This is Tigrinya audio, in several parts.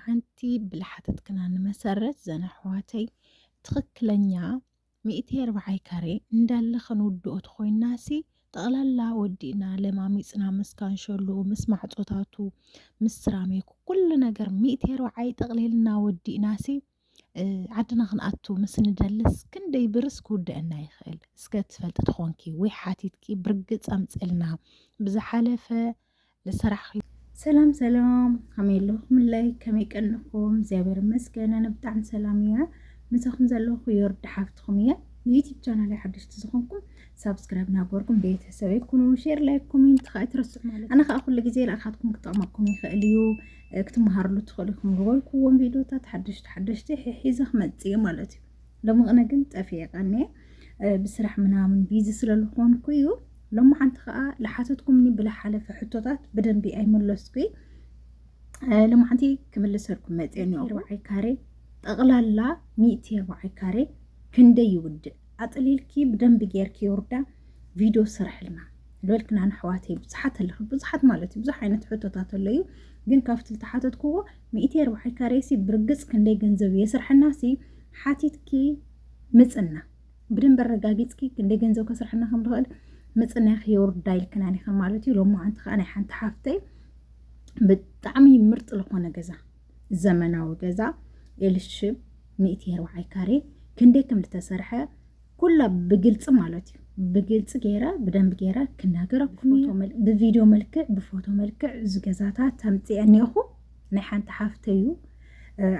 ሓንቲ ብልሓተትክና ንመሰረት ዘን ኣሕዋተይ ትክክለኛ ሚእቲ ኣርባዓይ ካሬ እንዳለ ከንውድኦ ተኮይናሲ ጠቅላላ ወዲእና ለማሚፅና ምስ ካንሸሉ ምስ ማዕፆታቱ ምስ ስራሜኩ ኩሉ ነገር ሚእቲ ኣርባዓይ ጠቅሊልና ወዲእናሲ ዓድና ክንኣቱ ምስ ንደልስ ክንደይ ብርስ ክውደአና ይኽእል እስከ ትፈልጢ ተኾንኪ ወይ ሓቲትኪ ብርግፅ ኣምፅልና ብዝሓለፈ ልስራሕ ሰላም ሰላም ከመይ ኣለኹምለይ ከመይ ቀንኹም እግዚኣብሔር ይመስገን ኣነ ብጣዕሚ ሰላም እየ ምሳኹም ዘለኹ የወርዲ ሓፍትኹም እየ ንዩቲብ ቻናል ሓደሽቲ ዝኾንኩም ሳብስክራይብ ናገርኩም ቤተሰብ ይኩኑ ሼር ላይክ ኮሜንት ከዓ ይትረሱ ማለት ኣነ ከዓ ኩሉ ግዜ ንኣኻትኩም ክጠቕመኩም ይኽእል እዩ ክትመሃርሉ ትኽእሉ ኢኹም ዝበልኩዎም ቪድዮታት ሓደሽቲ ሓደሽቲ ሒዘ ክመፅእ ማለት እዩ ሎሚ ቅነ ግን ጠፊኤ ቀኒየ ብስራሕ ምናምን ቢዚ ስለዝኾንኩ እዩ ሎሚ ሓንቲ ከዓ ልሓተትኩምኒ ብልሓለፈ ሕቶታት ብደንቢ ኣይመለስኩይ ሎሚ ሓንቲ ክምልሰልኩም መፅአ ኣርባዓይ ካሬ ጠቕላላ ሚእቲ ኣርባዓይ ካሬ ክንደይ ይውድእ ኣጥሊልኪ ብደንቢ ጌርኪ ይውርዳ ቪድዮ ስርሕልና ዝበልክና ንሕዋተይ ብዙሓት ኣለኹ ብዙሓት ማለት እዩ ብዙሕ ዓይነት ሕቶታት ኣሎ እዩ ግን ካብቲ ዝተሓተትክዎ ሚእቲ ኣርብዓይ ካሬሲ ብርግጽ ክንደይ ገንዘብ እዩ የስርሐናሲ ሓቲትኪ ምጽና ብደንብ ኣረጋጊጽኪ ክንደይ ገንዘብ ከስርሐና ከም ዝኽእል ምጽና ኢኺ የውርዳ ኢልክናን ኢኺ ማለት እዩ ሎማዓንቲ ከዓ ናይ ሓንቲ ሓፍተይ ብጣዕሚ ምርጥ ዝኾነ ገዛ ዘመናዊ ገዛ ኤልሽብ ሚእቲ ኣርብዓይ ካሬ ክንደይ ከም ዝተሰርሐ ኩላ ብግልፂ ማለት እዩ ብግልፂ ገይረ ብደንብ ገይረ ክናገረኩም ብቪድዮ መልክዕ ብፎቶ መልክዕ ዝገዛታት ተምፅአ እኒኹ ናይ ሓንቲ ሓፍተዩ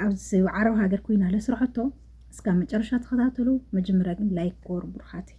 ኣብዚ ዓረብ ሃገር ኮይና ለስርሐቶ እስካ መጨረሻ ተኸታተሉ መጀመሪያ ግን ላይክ ጎር ብሩኻትይ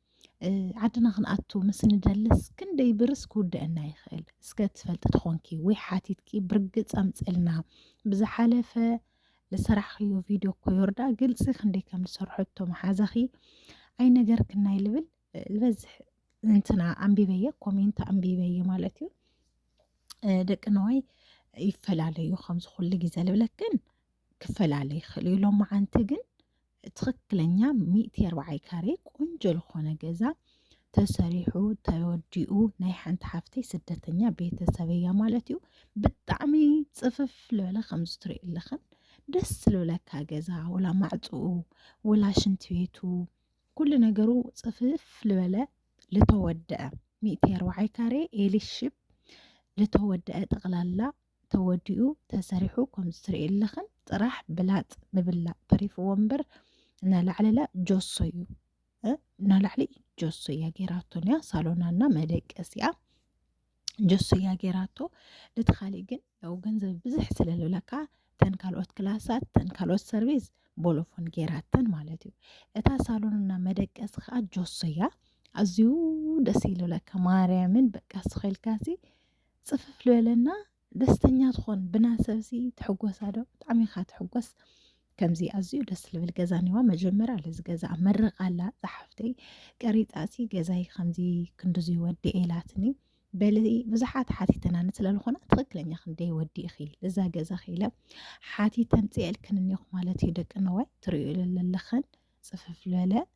ዓድና ክንኣቱ ምስ ንደልስ ክንደይ ብርስ ክውደአና ይኽእል እስከ ትፈልጢ ትኾንኪ ወይ ሓቲትኪ ብርግፅ ኣምፅልና ብዝሓለፈ ዝሰራሕክዮ ቪድዮ እኮ ይወርዳ ግልፂ ክንደይ ከም ዝሰርሐቶ መሓዛኺ ኣይነገርክን ናይ ልብል ዝበዝሕ እንትና ኣንቢበየ ኮሜንት ኣንቢበየ ማለት እዩ ደቂ ነዋይ ይፈላለዩ ከምዚ ኩሉ ግዜ ልብለክን ክፈላለ ይኽእል እዩ ሎማዓንቲ ግን ትኽክለኛ ሚእቲ ኣርባዓይ ካሬ ቆንጆ ዝኾነ ገዛ ተሰሪሑ ተወዲኡ ናይ ሓንቲ ሓፍተይ ስደተኛ ቤተሰብ እያ ማለት እዩ ብጣዕሚ ፅፍፍ ልበለ ከምዚ ትሪኢ ኣለኽን ደስ ልብለካ ገዛ ወላ ማዕፅኡ ወላ ሽንቲ ቤቱ ኩሉ ነገሩ ፅፍፍ ልበለ ልተወደአ ሚእቲ ኣርባዓይ ካሬ ኤሊሽፕ ልተወደአ ጠቕላላ ተወዲኡ ተሰሪሑ ከምዚ ትርእየለኽን ጥራሕ ብላጥ ምብላእ ተሪፍዎ እምበር እናላዕለላ ጆሶ እዩ እናላዕሊ ጆሶ እያ ጌራቶ እያ ሳሎናና መደቀሲያ ጆሶ እያ ጌራቶ እቲ ካሊእ ግን ያው ገንዘብ ብዝሕ ስለልብለካ ተን ካልኦት ክላሳት ተን ካልኦት ሰርቪስ ቦሎፎን ጌራተን ማለት እዩ እታ ሳሎንና መደቀሲ ከዓ ጆሶ እያ ኣዝዩ ደስ ይልብለካ ማርያምን በቃ ስኸልካሲ ጽፍፍ ልበለና ደስተኛ ትኾን ብና ሰብሲ ትሕጎሳ ዶ ብጣዕሚ ኢኻ ትሕጎስ ከምዚ ኣዝዩ ደስ ልብል ገዛ ኒዋ መጀመርያ ለዚ ገዛ መርቕ ኣላ ዛሓፍተይ ቀሪፃሲ ገዛይ ከምዚ ክንድዚ ወዲኤ ኢላትኒ በሊ ብዙሓት ሓቲተና ንስለልኾና ትኽክለኛ ክንደይ ወዲእኺ እዛ ገዛ ኺኢለ ሓቲተን ፅኤልክን እኒኹ ማለት እዩ ደቂ ነዋይ ትሪኡ ለለኽን ፅፍፍ ልበለ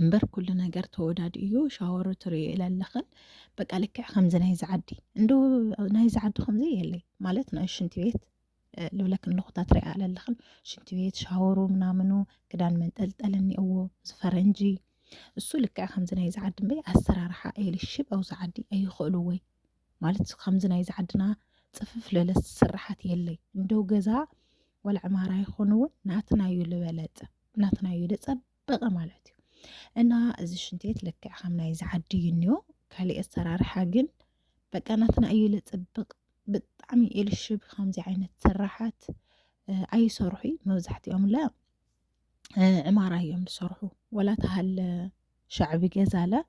እምበር ኩሉ ነገር ተወዳዲ እዩ ሻወሩ ትርእዩ የለለኽን በቃ ልክዕ ከምዚ ናይ ዝዓዲ እንዶ ናይ ዝዓዲ ከምዚ የለይ ማለት ናይ ሽንቲ ቤት ልብለክን ለኹታ ትሪኣ ኣለለኽን ሽንቲ ቤት ሻወሩ ምናምኑ ክዳን መንጠልጠል እኒኦዎ ዝፈረንጂ እሱ ልክዕ ከምዚ ናይ ዝዓዲ እምበይ ኣሰራርሓ ኤልሽብ ኣብ ዝዓዲ ኣይኽእሉ ወይ ማለት ከምዚ ናይ ዝዓድና ፅፍፍ ለለ ስራሓት የለይ እንደው ገዛ ወላ ዕማራ ይኹን እውን ናትናዩ ልበለፀ ናትናዩ ልፀብ በቐ ማለት እዩ እና እዚ ሽንትቤት ልክዕ ከም ናይዚ ዓዲ እዩ እኒኦ ካሊእ ኣሰራርሓ ግን በቃ ናትና እዩ ልፅብቕ ብጣዕሚ ኤልሽብ ከምዚ ዓይነት ስራሓት ኣይሰርሑ መብዛሕትኦም ለ ዕማራ እዮም ዝሰርሑ ወላ ተሃለ ሻዕቢ ገዛ ለ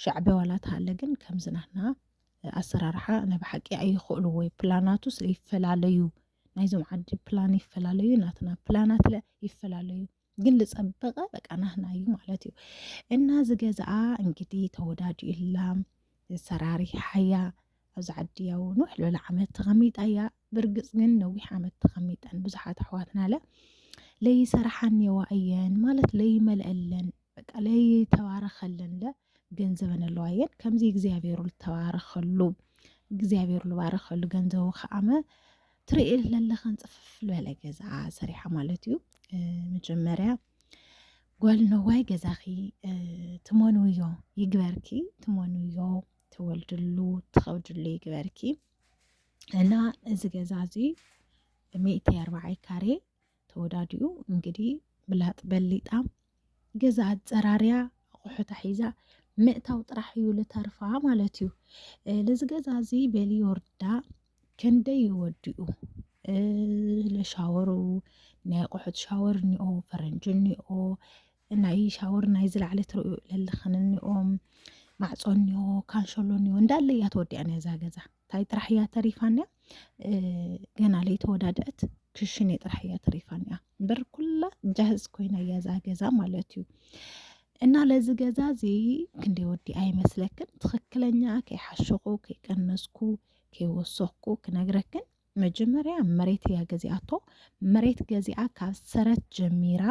ሻዕቢ ወላ ተሃለ ግን ከምዚ ናትና ኣሰራርሓ ናይ ብሓቂ ኣይኽእልዎ ፕላናቱ ይፈላለዩ ናይዞም ዓዲ ፕላን ይፈላለዩ ናትና ፕላናት ለ ይፈላለዩ ግን ልፀበቀ በቃ ናህና እዩ ማለት እዩ እና ዝገዝኣ እንግዲህ ተወዳዲኡላ ሰራሪሓያ ኣብዚ ዓዲ ያው ንውሕ ዝበለ ዓመት ተቐሚጣ እያ ብርግፅ ግን ነዊሕ ዓመት ተቐሚጠን ብዙሓት ኣሕዋትናለ ለይሰራሓን የዋ እየን ማለት ለይመልአለን በቃ ለይተባረኸለን ለ ገንዘበን ኣለዋ እየን ከምዚ እግዚኣብሔሩ ዝተባረኸሉ እግዚኣብሔሩ ዝባረኸሉ ገንዘቡ ከዓመ ትርኢ ለለኸን ፅፍፍ ዝበለ ገዛ ሰሪሓ ማለት እዩ መጀመርያ ጓል ነዋይ ገዛኺ ትመንውዮ ይግበርኪ ትመንውዮ ትወልድሉ ትኸብድሉ ይግበርኪ እና እዚ ገዛ እዚ ሚእቲ ኣርባዓይ ካሬ ተወዳዲኡ እንግዲ ብላጥ በሊጣ ገዛ ኣፀራርያ ኣቑሑታ ሒዛ ምእታው ጥራሕ እዩ ልተርፋ ማለት እዩ ልዚ ገዛ እዚ ቤሊ ወርዳ ክንደይ ይወዲኡ ለሻወሩ ናይ ኣቑሑት ሻወር እኒኦ ፈረንጂ እኒኦ ናይ ሻወር ናይ ዝላዕለ ትርእዩ ለልኽን እኒኦም ማዕፆ እኒኦ ካንሸሎ እኒኦ እንዳለ እያ ተወዲኣ ነያ እዛ ገዛ እንታይ ጥራሕ እያ ተሪፋንያ ገና ለይተወዳድአት ክሽኔ ጥራሕ እያ ተሪፋንያ እምበር ኩላ ጃህዝ ኮይና እያ እዛ ገዛ ማለት እዩ እና ለዚ ገዛ እዚ ክንደ ወዲ ኣይመስለክን ትኽክለኛ ከይሓሸኹ ከይቀነስኩ ከይወሰኽኩ ክነግረክን መጀመርያ መሬት እያ ገዚኣቶ መሬት ገዚኣ ካብ ሰረት ጀሚራ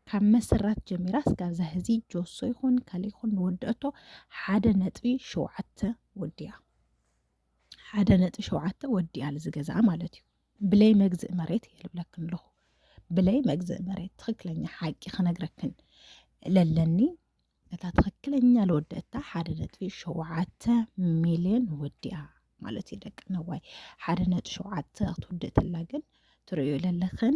ካብ መስራት ጀሚራ ስጋብዛ ህዚ ጆሶ ይኹን ካልእ ይኹን ንወደእቶ ሓደ ነጥቢ ሸውዓተ ወዲያ ሓደ ነጥቢ ሸውዓተ ወዲያ ልዝገዛ ማለት እዩ ብለይ መግዝእ መሬት እየ ልብለክን ኣለኹ ብለይ መግዝእ መሬት ትኽክለኛ ሓቂ ክነግረክን ለለኒ እታ ትኽክለኛ ልወደእታ ሓደ ነጥቢ ሸውዓተ ሚልዮን ወዲያ ማለት እዩ ደቂ ነዋይ ሓደ ነጥቢ ሸውዓተ ክትውድእ ተላ ግን ትርእዩ ለለኽን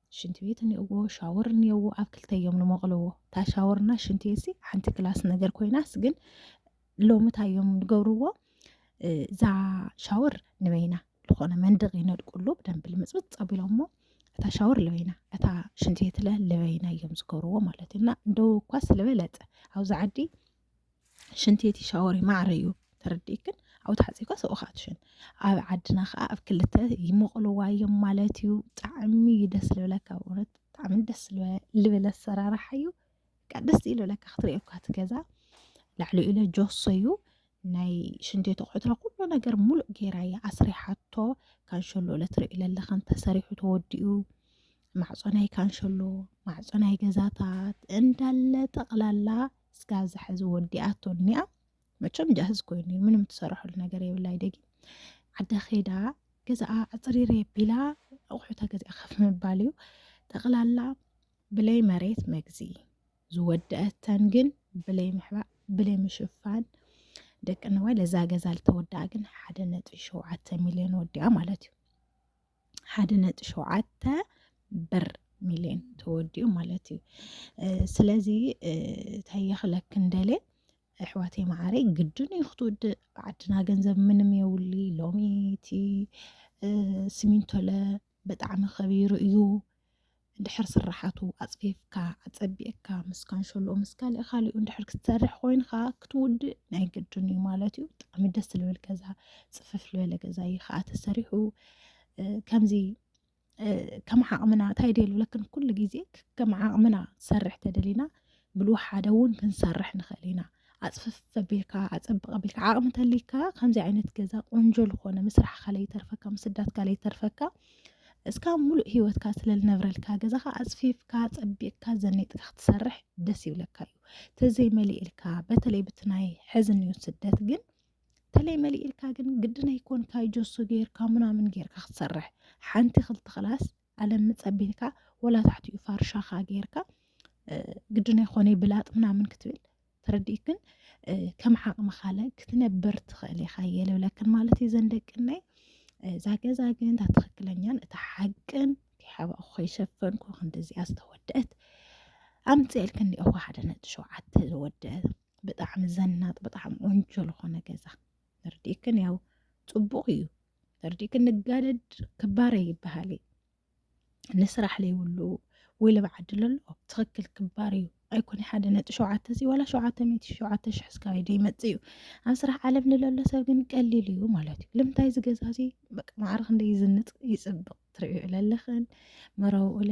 ሽንቲ ቤት እኒኦዎ ሻወር እኒኦዎ ኣብ ክልተ እዮም ንመቕልዎ እታ ሻወርና ሽንቲ ቤት ሲ ሓንቲ ክላስ ነገር ኮይናስ ግን ሎሚ እንታይ እዮም ንገብርዎ እዛ ሻወር ንበይና ዝኾነ መንደቕ ይነድቁሉ ብደንብ ልምፅምፅ ኣቢሎሞ እታ ሻወር ልበይና እታ ሽንቲ ቤት ለ ልበይና እዮም ዝገብርዎ ማለት እዩ እና እንደው እኳስ ልበለፀ ኣብዚ ዓዲ ሽንትየቲ ሻወሪ ማዕረ እዩ ተረዲእክን ኣብኡ ተሓፂብካ ሰብኡ ከዓ ትሽን ኣብ ዓድና ከዓ ኣብ ክልተ ይመቕልዋ እዮም ማለት እዩ ብጣዕሚ እዩ ደስ ልብለካ ብእውነት ብጣዕሚ ደስ ልብል ኣሰራርሓ እዩ በቃ ደስ ኢሉ ለካ ክትሪኦ እኳ እቲ ገዛ ላዕሊ ኢለ ጆሶ እዩ ናይ ሽንት ተቑሑትና ኩሉ ነገር ሙሉእ ጌራ እያ ኣስሪሓቶ ካንሸሎ ለትሪኦ ኢለለኸን ተሰሪሑ ተወዲኡ ማዕፆ ናይ ካንሸሎ ማዕፆ ናይ ገዛታት እንዳለ ጠቕላላ ስጋዛ ሕዚ ወዲኣቶ እኒኣ መቸም ጃህዝ ኮይኑ ምንም ትሰርሐሉ ነገር የብላ ይደጊ ዓዳ ኸይዳ ገዛኣ ኣፅሪረ ቢላ ኣቑሑታ ገዚኣ ከፍ ምባል እዩ ጠቕላላ ብለይ መሬት መግዚ ዝወደአተን ግን ብለይ ምሕባእ ብለይ ምሽፋን ደቂ ነዋይ ለዛ ገዛ ልተወደኣ ግን ሓደ ነጥቢ ሸውዓተ ሚልዮን ወዲኣ ማለት እዩ ሓደ ነጥ ሸውዓተ ብር ሚልዮን ተወዲኡ ማለት እዩ ስለዚ ተየኽለክ እንደለ ኣሕዋተይ መዓረይ ግድን እዩ ክትውድእ ብዓድና ገንዘብ ምንም የውሊ ሎሚ እቲ ስሚንቶለ ብጣዕሚ ከቢሩ እዩ እንድሕር ስራሓቱ ኣፅፊፍካ ኣፀቢቕካ ምስ ካንሸሎ ምስ ካልእ ካልኡ እንድሕር ክትሰርሕ ኮይንካ ክትውድእ ናይ ግድን እዩ ማለት እዩ ብጣዕሚ ደስ ልብል ገዛ ፅፍፍ ልበለ ገዛ እዩ ከዓ ተሰሪሑ ከምዚ ከም ዓቕምና እንታይ ደል ብለክን ኩሉ ግዜ ከም ዓቕምና ትሰርሕ ተደሊና ብልወሓደ እውን ክንሰርሕ ንኽእል ኢና ኣፅፍፍ ኣቢልካ ኣፀብቕ ኣቢልካ ዓቕሚ እንተሊካ ከምዚ ዓይነት ገዛ ቆንጆ ዝኾነ ምስራሕካ ለይተርፈካ ምስዳትካ ለይተርፈካ እስካ ሙሉእ ሂወትካ ስለልነብረልካ ገዛኻ ኣፅፊፍካ ፀቢቕካ ዘኒጥካ ክትሰርሕ ደስ ይብለካ እዩ ተዘይ መሊእልካ በተለይ ብቲ ናይ ሕዝን እዩ ስደት ግን ተለይ መሊእልካ ግን ግድን ኣይኮንካ ጆሶ ጌርካ ምናምን ጌርካ ክትሰርሕ ሓንቲ ክልቲ ክላስ ኣለምፅ ኣቢልካ ወላ ታሕቲኡ ፋርሻኻ ጌርካ ግድን ኣይኮነይ ብላጥ ምናምን ክትብል ትርድእ ግን ከም ዓቕምኻለ ክትነብር ትኽእል ኢኻ እየ ልብለክን ማለት እዩ ዘን ደቅነይ እዛ ገዛ ግን እታ ትኽክለኛን እታ ሓቅን ከይሓባእኹ ከይሸፈንኩ ክንዲዚኣ ዝተወደአት ኣምፅኤልክን እኒኦ ሓደ ነጥቢ ሸውዓተ ዝወደአ ብጣዕሚ ዘናጥ ብጣዕሚ ቆንጆ ዝኾነ ገዛ ተርዲእክን ያው ፅቡቕ እዩ ተርዲእክን ንጋደድ ክባረ ይበሃል እዩ ንስራሕ ለይብሉ ወይ ለብዓዲ ለሎ ትኽክል ክባር እዩ ኣይኮነ ሓደ ነጥ ሸውዓተ እዚ ዋላ ሸውዓተ ሚእቲ ሸውዓተ ሽሕ ስካብ ዶ ይመፅእ እዩ ኣብ ስራሕ ዓለም ንለሎ ሰብ ግን ቀሊል እዩ ማለት እዩ ልምታይ ዝገዛ እዚ በቃ ማዕረ ክንደ ይዝንጥ ይፅብቕ ትርእዩ እለለኽን መረውኡለ